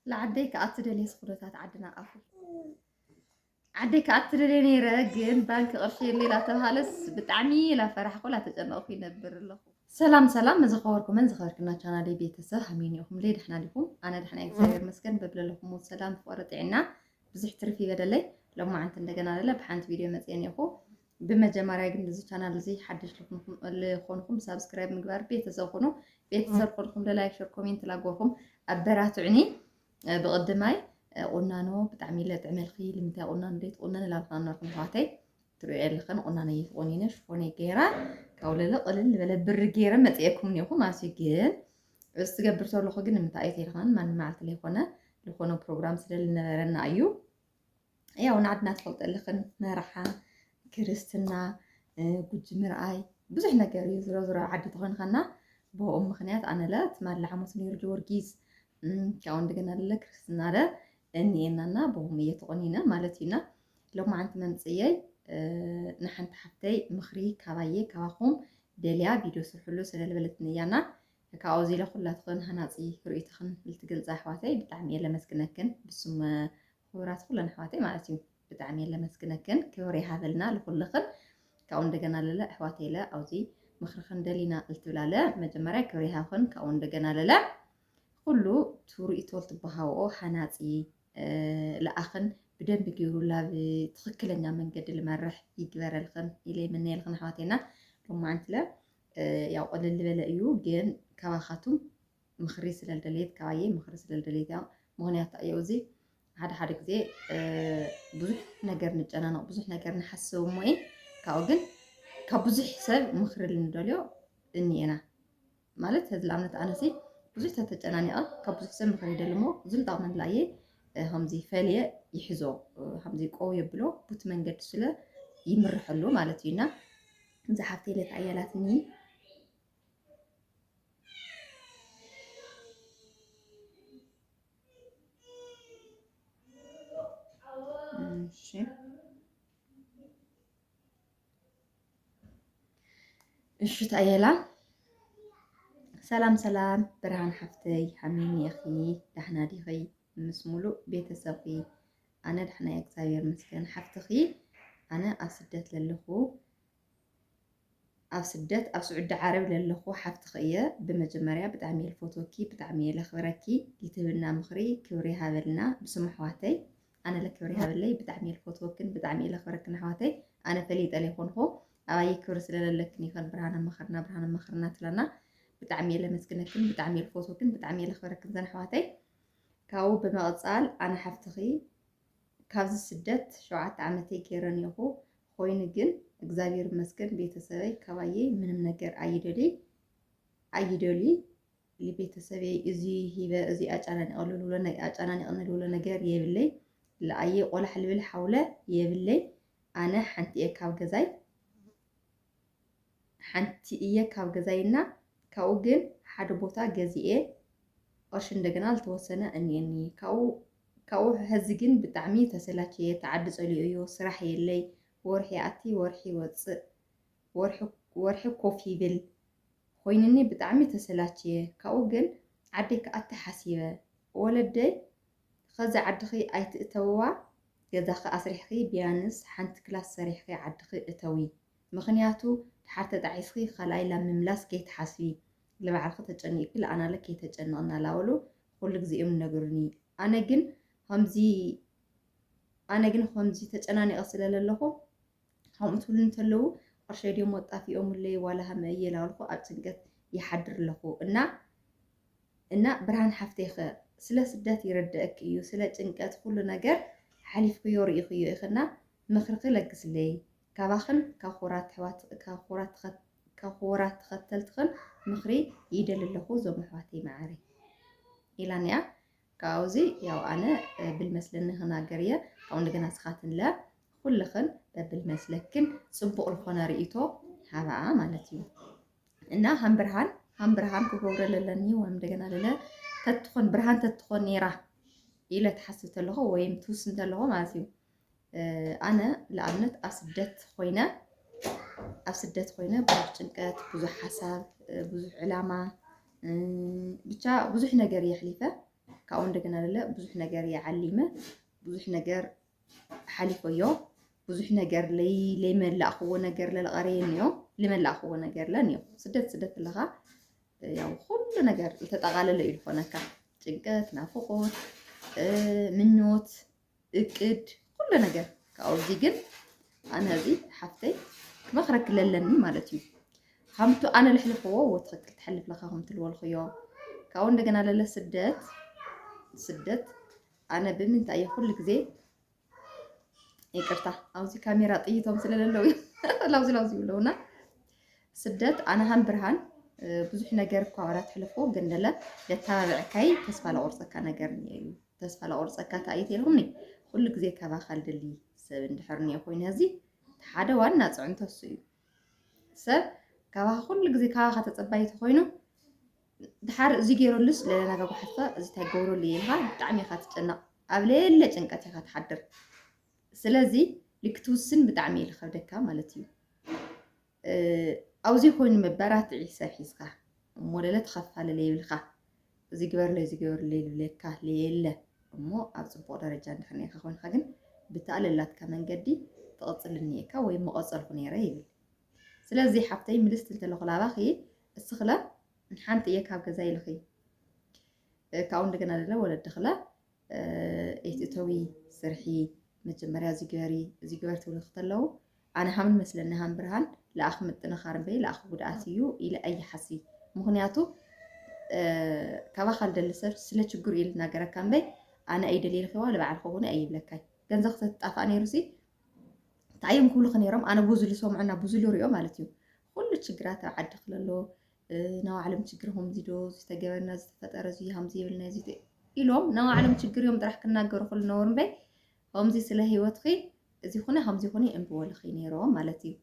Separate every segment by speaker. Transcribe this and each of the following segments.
Speaker 1: ለዓደይ ከኣ ትደልየ ስኹነታት ዓድና ኣኹ ዓደይ ከኣ ትደልየ ነይረ ግን ባንኪ ቅርሺ የለይ ላተብሃለስ ብጣዕሚ ላፈራሕኩ ላተጨነቕኩ ይነብር ኣለኹ። ሰላም ሰላም መዘኸበርኩምን ዝኸበርክና ቻናለይ ቤተሰብ ሃመይን ኢኹም ለይ ደሕና ዲኹም ኣነ ደሕና እግዚኣብሔር መስገን በብለለኹም ሰላም ፍቕሪ ጥዕና ብዙሕ ትርፊ ይበደለይ ሎማዓንቲ እንደገና ለለ ብሓንቲ ቪድዮ መፅየን ኢኹ ብመጀመርያ ግን እዚ ቻናል እዚ ሓድሽ ልኾንኹም ሳብስክራይብ ምግባር ቤተሰብ ኹኑ ቤተሰብ ኾንኹም ለላይክ ሸር ኮሜንት ላጎርኹም ኣበራትዕኒ ብቕድማይ ቁናኖ ብጣዕሚ ኢለ ጥዕመልኺ ልምንታይ ቁናኖ ደይ ትቁነን ላልካ ነርኩም ኣሕዋተይ ትሪኦ የለኽን ቁናኖ እየትቆኒነ ሽፎነ ገይራ ካብኡ ለለ ቅልል ዝበለ ብሪ ገይረ መፅኤኩም እኒኹ ማለት እዩ ግን እዚ ትገብር ዘለኹ ግን ንምንታይ እዩ ተይልኻን ማንም መዓልቲ ለይኮነ ዝኾነ ፕሮግራም ስለልነበረና እዩ ያው ንዓድና ትፈልጦ ኣለኽን መርዓ ክርስትና ጉጂ ምርኣይ ብዙሕ ነገር እዩ ዝሮ ዝሮ ዓዲ ተኾንኻና ብኡ ምክንያት ኣነ ለ ትማሊ ሓሙስ ነይሩ ጊዮርጊስ ካብኡ እንደገና ለ ክርስትና ለ እኒኤናና ብኡም እየ ተቆኒነ ማለት እዩና ሎማዓንቲ መምፅየይ ንሓንቲ ሓፍተይ ምኽሪ ካባየ ካባኹም ደልያ ቪድዮ ስርሕሉ ስለልበለትኒ እያና እካ ኣውዚ ኢለ ኩላትኽን ሃናጺ ርእይቶኽን ልትገልጻ ኣሕዋተይ ብጣዕሚ እየ ለመስግነክን ብስም ኹቡራት ኩለን ኣሕዋተይ ማለት እዩ ብጣዕሚ እየ ለመስግነክን ክብሪ ይሃበልና ልኹልኽን ካብኡ እንደገና ለለ ኣሕዋተይ ለ ኣውዚ ምኽርኽን ደሊና ልትብላ ለ መጀመርያ ክብሪ ይሃብኽን ካብኡ እንደገና ለለ ኩሉ ትርእይቶ ልትበሃውኦ ሃናጺ ልኣኽን ብደንቢ ገይሩ ላብ ትኽክለኛ መንገዲ ልመርሕ ይግበረልኽን ኢለ ይምነየልኽን ኣሕዋተይና ሎማዓንቲ ለ ያው ቅልል ዝበለ እዩ ግን ካባኻቱም ምኽሪ ስለ ዝደለየት ካባየ ምኽሪ ስለ ዝደለየት ያው ምኽንያት እዩ እዚ ሓደ ሓደ ግዜ ብዙሕ ነገር ንጨናነቕ ብዙሕ ነገር ንሓስብ እሞ እየ ካብኡ ግን ካብ ብዙሕ ሰብ ምኽሪ ልንደልዮ እኒኤና ማለት ህዚ ንኣብነት ኣነሲ ብዙሕ ተተጨናኒቐ ካብ ብዙሕ ሰብ ምኽሪ ይደሊ እሞ እዙም ጣቕመን ላየ ከምዚ ፈልየ ይሕዞ ከምዚ ቆው የብሎ ቡት መንገድ ስለ ይምርሐሉ ማለት እዩና እዛ ሓፍተይ ለካ ኣያላትኒ እሺ ታየላ ሰላም ሰላም ብርሃን ሓፍተይ ሓሚኒ ኢኺ ዳሕና ዲኺ ምስ ሙሉእ ቤተሰብኺ ኣነ ዳሕና እየ እግዚኣብሔር ይመስገን ሓፍትኺ ኣነ ኣብ ስደት ለለኹ ኣብ ስደት ኣብ ስዑዲ ዓረብ ለለኹ ሓፍትኺ እየ ብመጀመርያ ብጣዕሚ እየ ልፈትወኪ ብጣዕሚ እየ ለኽብረኪ ልትህብና ምኽሪ ክብሪ ይሃበልና ብስም ኣሕዋተይ ኣነ ለክብሪ ይሃበለይ ብጣዕሚ እየ ልፈትወክን ብጣዕሚ እየ ለኽብረክን ኣሕዋተይ ኣነ ፈሊጠ ለይኮንኹ ኣባየ ክብሪ ስለለለክን ይኸን ብርሃነ መኸርና ብርሃነ መኸርና ትላና ብጣዕሚ እየ ለመስግነክን ብጣዕሚ እየ ልፈትወክን ብጣዕሚ እየ ለኽብረክን ዘን ኣሕዋተይ ካብኡ ብምቕጻል ኣነ ሓፍትኺ ካብዚ ስደት ሸውዓተ ዓመተይ ገይረ ኔኹ ኾይኑ ግን እግዚኣብሔር ይመስገን ቤተሰበይ ካባየይ ምንም ነገር ኣይደሊ ኣይደሊ ልቤተሰበይ እዚ ሂበ እዚ ኣጫናኒቐ ልብሎ ኣጫናኒቕኒ ልብሎ ነገር የብለይ ለኣየ ቆላሕ ልብል ሓውለ የብለይ ኣነ ሓንቲ እየ ካብ ገዛይ ሓንቲ እየ ካብ ገዛይ እና ካብኡ ግን ሓደ ቦታ ገዚኤ ቕርሺ እንደገና ልተወሰነ እኒኤኒ ካብኡ ካብኡ ሐዚ ግን ብጣዕሚ ተሰላችየ ተዓዲ ፀሊኦ እዮ ስራሕ የለይ ወርሒ ይኣቲ ወርሒ ይወፅእ ወርሒ ወርሒ ኮፍ ይብል ኾይንኒ ብጣዕሚ ተሰላችየ ካብኡ ግን ዓደይ ክኣቲ ሓሲበ ወለደይ ኸዚ ዓድኺ ኣይትእተውዋ ገዛኺ ኣስሪሕኺ ቢያንስ ሓንቲ ክላስ ሰሪሕኺ ዓድኺ እተዊ ምኽንያቱ ድሓር ተጣዒስኺ ኻልኣይ ላብ ምምላስ ከይትሓስቢ ልባዕልኺ ተጨኒቅኪ ልኣናለ ከይተጨንቂ እናላበሉ ኹሉ ግዜ እዮም ልነግሩኒ ኣነ ግን ኸምዚ ኣነ ግን ኸምዚ ተጨናኒቀ ስለለለኹ ከምኡ ትብሉ እንተለዉ ቅርሸይ ድዮም ኣጣፊኦምለይ ዋላ ሃመ እየ ላበልኩ ኣብ ጭንቀት ይሓድር ኣለኹ እና እና ብርሃን ሓፍተይ ኸ ስለ ስደት ይርደእክ እዩ ስለ ጭንቀት ኹሉ ነገር ሓሊፍክዮ ርኢኽዮ ኢኽና ምኽርኺ ለግስለይ ካባኽን ካብ ኹቡራት ተኸተልትኽን ምኽሪ ይደሊ ኣለኹ ዞም ኣሕዋተይ መዓረይ ኢላን እያ ካብኡ እዚ ያው ኣነ ብልመስለኒ ክናገር እየ ካብኡ እንደገና ስኻትን ለ ኩልኽን በብልመስለክን ፅቡቕ ዝኾነ ርእይቶ ሃባኣ ማለት እዩ እና ሃም ብርሃን ሃም ብርሃን ክገብረ ለለኒ ወይም እንደገና ለለ ተትኾን ብርሃን ተትኾን ነይራ ኢለ ትሓስብ ተለኹ ወይም ትውስን ተለኹ ማለት እዩ ኣነ ንኣብነት ኣብ ስደት ኮይነ ኣብ ስደት ኮይነ ብዙሕ ጭንቀት፣ ብዙሕ ሓሳብ፣ ብዙሕ ዕላማ ብቻ ብዙሕ ነገር እየ ኣሕሊፈ። ካብኡ እንደገና ደለ ብዙሕ ነገር እየ ዓሊመ፣ ብዙሕ ነገር ሓሊፈዮ፣ ብዙሕ ነገር ለይመላእክዎ ነገር ለለቐረየኒ እዮ፣ ልመላእክዎ ነገር ለን እዮ። ስደት ስደት ኣለኻ ያው ኩሉ ነገር ዝተጠቓለለ እዩ ዝኾነካ ጭንቀት፣ ናፍቆት፣ ምኞት እቅድ ኩሉ ነገር ካብኡ እዚ ግን ኣነ እዚ ሓፍተይ ክመኽረኪ ለለኒ ማለት እዩ ከምቱ ኣነ ልሕልፈዎ ወትኽክል ትሐልፍ ለኻ ከም ትልወልኽዮ ካብኡ እንደገና ለለ ስደት ስደት ኣነ ብምንታይ እየ ኩሉ ግዜ ይቅርታ ኣብዚ ካሜራ ጥይቶም ስለለለው ላውዚ ላውዚ ይብለውና ስደት ኣነ ሃም ብርሃን ብዙሕ ነገር እኳ ወራት ሕልፎ ግን ለለ ለተባብዕካይ ተስፋ ለቆርፀካ ነገር እዩ ተስፋ ለቁርፀ እካ እንታይ እዩ ተይልኩምኒ ኩሉ ግዜ ካባኻ ልደሊ ሰብ እንድሕር እኒኦ ኮይኑ ሀዚ ሓደ ዋና ፅዕንቶ እሱ እዩ ሰብ ካባኻ ኩሉ ግዜ ካባኻ ተፀባይ ተኮይኑ ድሓር እዚ ገይረሉስ ለናጋ ጓሓትካ እዚ እንታይ ገብረሉ እዩ ኢልካ ብጣዕሚ ኢኻ ትጨነቕ ኣብ ሌለ ጭንቀት ኢኻ ትሓድር ስለዚ ልክትውስን ብጣዕሚ እዩ ዝኸብደካ ማለት እዩ ኣውዚ ኮይኑ መበራትዒ ሰብ ሒዝካ እሞ ለለ ተኸፋለ ለይብልካ እዚ ግበርለይ እዚ ግበርለይ ልብለካ ለየለ እሞ ኣብ ፅቡቕ ደረጃ እንድሕር ነርካ ኮይንካ ግን ብተኣለላትካ መንገዲ ትቕፅል እኒኤካ ወይ መቐፀልኩ ነይረ ይብል ስለዚ ሓብተይ ምልስቲ እንተለኹ ላባኺ እስኽለ ሓንቲ እየ ካብ ገዛ ይልኺ ካብኡ እንደገና ለለ ወለድኽለ ኤትእተዊ ስርሒ መጀመርያ እዚ ግበሪ እዚ ግበር ትብሉ ክተለዉ ኣነ ሃም መስለኒ ሃም ብርሃን ለኣኽ ምጥንኻር እምበይ ለኣኽ ጉድኣት እዩ ኢለ ኣይሓሲ ምክንያቱ ካባኻ ልደሊ ሰብ ስለ ችግሩ እዩ ልናገረካ እምበይ ኣነ ኣይደልየ ልኸዋ ልበዓል ከውን ኣይብለካይ ገንዘ ክተትጣፋእ ነይሩ ሲ እንታይ እዮም ክብሉኸ ነይሮም ኣነ ብዙ ልሰምዑና ብዙ ልሪኦ ማለት እዩ ኩሉ ችግራት ኣብ ዓዲ ክለሎ ናባዕሎም ችግር ከምዚ ዶ ዝተገበርና ዝተፈጠረ እዚ ከምዚ የብልና እዚ ኢሎም ናባዕሎም ችግር እዮም ጥራሕ ክናገሩ ክሉ ነበሩ እምበይ ከምዚ ስለ ህይወትኺ እዚ ኩነ ከምዚ ኩነ እንብበልኺ ነይሮም ማለት እዩ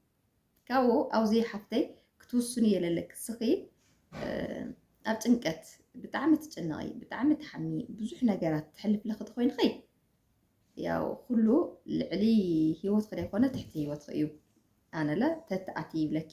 Speaker 1: ካብኡ ኣብዚ ሓፍተይ ክትውስኑ የለለክ ስኺ ኣብ ጭንቀት ብጣዕሚ ትጭነቂ ብጣዕሚ ትሓሚ ብዙሕ ነገራት ትሕልፍ ለኽቲ ኮይንኺ ያው ኩሉ ልዕሊ ህይወትኺ ዘይኮነ ትሕቲ ህይወትኺ እዩ ኣነለ ተትኣቲ ይብለኪ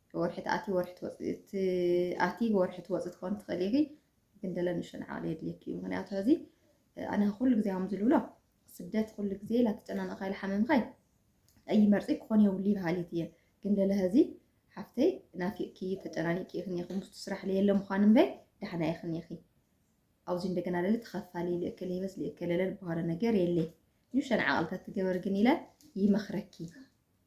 Speaker 1: ወርሒ ትኣቲ ወርሒ ትወፅእ ትኣቲ ወርሒ ትወፅእ ትኾን ትኽእል ኢኺ ግን ደለ ንእሽቶ ንዓቕሊ የድልየኪ እዩ ምክንያቱ ሕዚ ኣነ ኩሉ ግዜ ከም ዝብሎ ስደት ኩሉ ግዜ ላትጨናነቕካ ይልሓመምኻይ ኣይመርፂ ክኾን የብሉ ይበሃሊት እየ ግን ደለ ሕዚ ሓፍተይ ናፊቕኪ ተጨናኒቂ ኢኽን ኢኺ ምስቱ ስራሕ ለየለ ምዃን እምበይ ዳሕና ኢኽን ኢኺ ኣብዚ እንደገና ለለ ተኸፋሊ ልእክል ይበስ ልእክል ለለ ዝበሃሎ ነገር የለይ ንእሽቶ ንዓቕልታት ትገበር ግን ኢለ ይመኽረኪ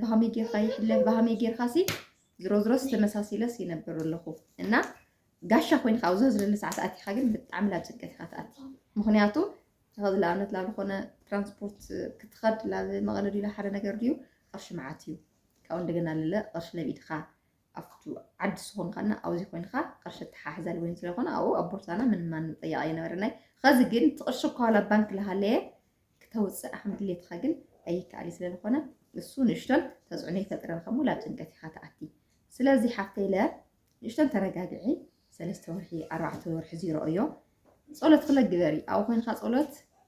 Speaker 1: ብሃመይ ጌርካ ይሕለፍ ብሃመይ ጌርካ ሲ ዝሮዝሮስ ተመሳሲለስ ይነብር ኣለኹ እና ጋሻ ኮይንካ ኣብ ዝህዝለሉ ሰዓት ኣቲኻ ግን ብጣዕሚ ላብ ጭንቀት ኢኻ ትኣቲ ምክንያቱ ተኸዚ ንኣብነት ላብ ዝኾነ ትራንስፖርት ክትኸድ ላብ መቐለ ድዩ ሓደ ነገር ድዩ ቅርሺ መዓት እዩ ካብኡ እንደገና ልለ ቅርሺ ለብ ኢድካ ኣብቱ ዓዲ ስኹን ኸና ኣውዚ ኮይንኻ ቕርሺ ተሓሕዛል ወይን ስለኾነ ኣኡ ኣብ ቦርሳና ምን ማንም ጠያቒ ኣይነበረናይ ኸዚ ግን እቲ ቕርሺ እኳ ዋላ ባንክ ለሃለየ ክተውፅእ ኣኸም ድሌትኻ ግን ኣይከኣሊ ስለለኾነ እሱ ንእሽቶን ተፅዕኖ ይፈጥረን ኸሙ ላብ ጭንቀት ኢኻ ተኣቲ ስለዚ ሓፍተይ ለ ንእሽቶን ተረጋግዒ ሰለስተ ወርሒ ኣርባዕተ ወርሒ ዚሮኦዮ ጸሎት ክለ ግበሪ ኣብኡ ኮይንኻ ጸሎት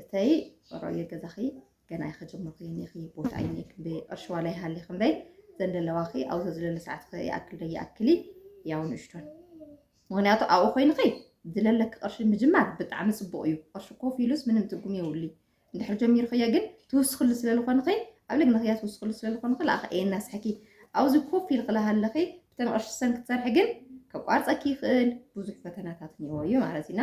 Speaker 1: እተይ ሮየ ገዛኺ ገና ኣይኸጀመርኩ ኒኺ ቦታ እይኒ ክንደይ ቅርሺ ዋላ ይሃሊ ክንደይ ዘንደለዋኺ ኣብዞ ዝለለ ሰዓት ይኣክል ዶ ይኣክሊ ያው ንእሽቶን ምክንያቱ ኣብኡ ኮይንኺ ዝለለኪ ቅርሺ ምጅማር ብጣዕሚ ፅቡቅ እዩ ቅርሺ ኮፍ ኢሉስ ምንም ትርጉም የብሉ እንድሕር ጀሚርክዮ ግን ትውስክሉ ስለዝኮንኺ ኣብ ልግንክያ ትውስክሉ ስለዝኮንኺ ለኣኸ ኤናስሕኪ ኣብዚ ኮፍ ኢልክ ለሃለኺ ብተን ቅርሺ ሰን ክትሰርሒ ግን ከቋርፀኪ ይኽእል ብዙሕ ፈተናታት እኒኦ እዩ ማለት እዩና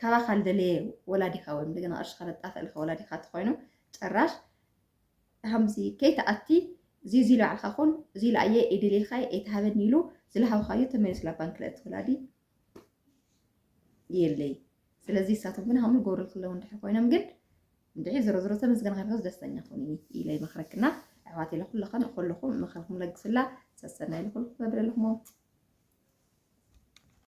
Speaker 1: ካባኻ ልደለየ ወላዲኻ ወይ እንደገና ቅርሽኻ ለጣፍእልካ ወላዲኻ ተኾይኑ ጭራሽ ከምዚ ከይተኣቲ እዚ እዚ ልባዕልካ ኹን እዚ ልኣየ ኢድልልካ ኤትሃበኒ ኢሉ ዝለሃብካዩ ተመሊሱ ላ ባንክ ለእቲ ወላዲ የለይ ስለዚ እሳቶም ግን ሃምሉ ጎብሪ ክለው እንድሕር ኮይኖም ግን እንድሕር ዝሮ ዝሮ ተመስገን ከንከስ ደስተኛ ኹን ኢለ ይመክረክና ኣሕዋት ኢለ ኩለኸን ኩልኹም ምክርኩም ለግስላ ሰሰና ኢለ ኩልኩም መብለልኹም